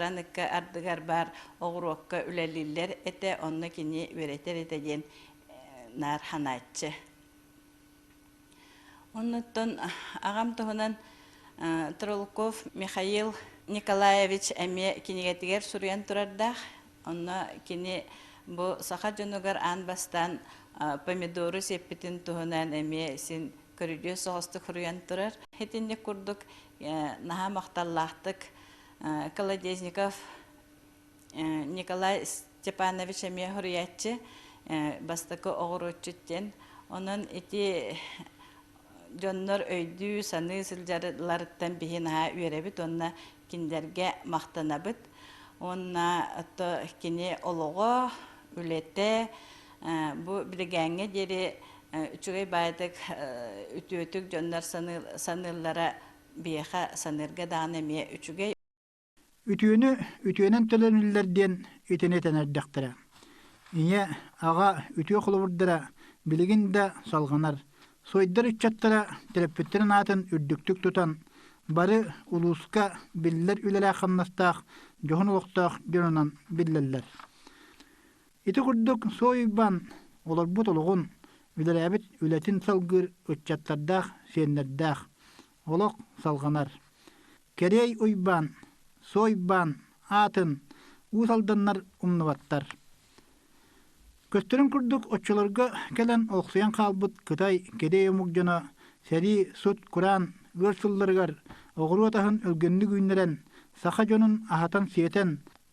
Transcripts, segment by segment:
ыкка ардыгар баар оҕуруокка үлэлииллэр этэ онно кини үөрэтэр этэ диэн наар ханааччы оннуттан аҕам туһунан Тролков Михаил Николаевич эмиэ кинигэтигэр суруйан турардаах онно кини бу саха дьонугар аан бастаан помидору сиппитин туһунан эмиэ син көрүдүөс соҕустук суруйан турар итинник курдук наһаа махталлаахтык Колодезников Николай Степанович эмиэ суруйааччы бастакы оҕуруотчут диэн. Онон ити дьоннор өйдүү-саныы сылдьалларыттан биһи наһаа үөрэбит уонна кинилэргэ махтанабыт. Уонна ото кини олоҕо, үлэтэ бу билигээҥҥэ диэри үчүгэй баайдык үтүөтүк дьоннор саныыллара биэхэ саныырга даҕаны эмиэ үчүгэй. Үтүөнү үтүөнэн төлөнүллэр диэн итини тэнэрдэхтэрэ. Ийэ, аҕа үтүө холобурдара билигин да салҕанар. Сойдар ыччаттара төрөппүттэрин аатын үрдүктүк тутан, бары улууска биллэр үлэлээх-хамнастаах, дьоһун олохтоох дьонунан биллэллэр. Ити курдук Суой Уйбаан олорбут олоҕун, үлэлээбит үлэтин салгыыр ыччаттардаах, сиэннэрдээх. Олох салҕанар. Кэрэй Уйбаан, Суой Уйбаан аатын Уус Алданнар умнубаттар. Көстөрүн курдук оччолорго кэлэн олохсуйан хаалбыт кытай кэрэй омук дьоно сэрии сут-кураан ыар сылларыгар оҕуруот аһын өлгөмнүк үүннэрэн саха дьонун аһатан-сиэтэн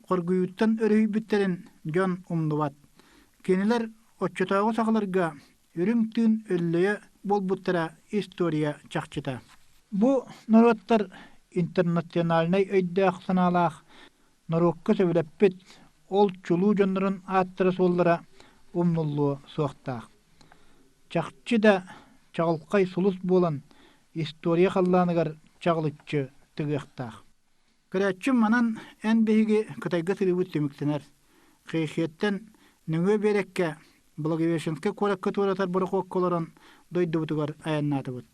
хоргуйууттан өрүһүйбүттэрин дьон умнубат. Кинилэр оччотооҕу сахаларга үрүҥ тыын өллөйө буолбуттара история чахчыта. Бу норуоттар интернациональнай өйдөөх-санаалаах норуокка сөбүлэппит ол чулуу дьоннорун ааттара-суоллара умнуллуо суохтаах. Чахчы да чаҕылхай сулус буолан история халлааныгар чаҕылыччы тыгыахтаах. Көрөөччүм манан эн биһиги Кытайга сырыыбыт түмүктэнэр. Хейхиэттэн нөҥүө биэрэккэ Благовещенскай куоракка туоратар борохуокка олорон дойдубутугар айаннаатыбыт.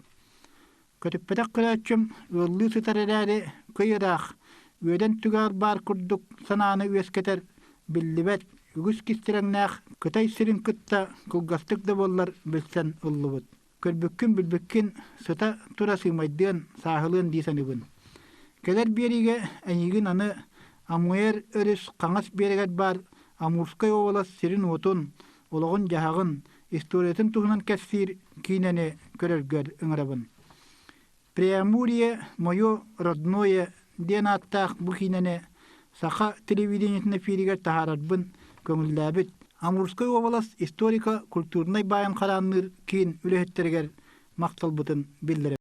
Көтүппэтэх көрөөччүм ыаллыы сытар эрээри кый ыраах, үөдэн түгээр баар курдук санааны үөскэтэр биллибэт, үгүс кистирэҥнээх Кытай сирин кытта кылгастык да буоллар билсэн ыллыбыт. көрбүккүн-билбиккин сыта тура сыымайдыан, сааһылыан дии саныыбын. Кэлэр биэриигэ эйиигин аны Амуэр өрүс хаҥас биэрэгэр баар Амурскай уобалас сирин-уотун, олоҕун-дьаһаҕын, историятын туһунан кэпсиир киинэни көрөргөр ыҥырабын. Преамурье «Мое родное» диэн ааттаах бу киинэни саха телевидениетин эфиригэр таһаарарбын көҥүллээбит Амурскай уобалас историко-культурнай-байын хараанныыр киин үлэһиттэригэр махталбытын биллэрэбит.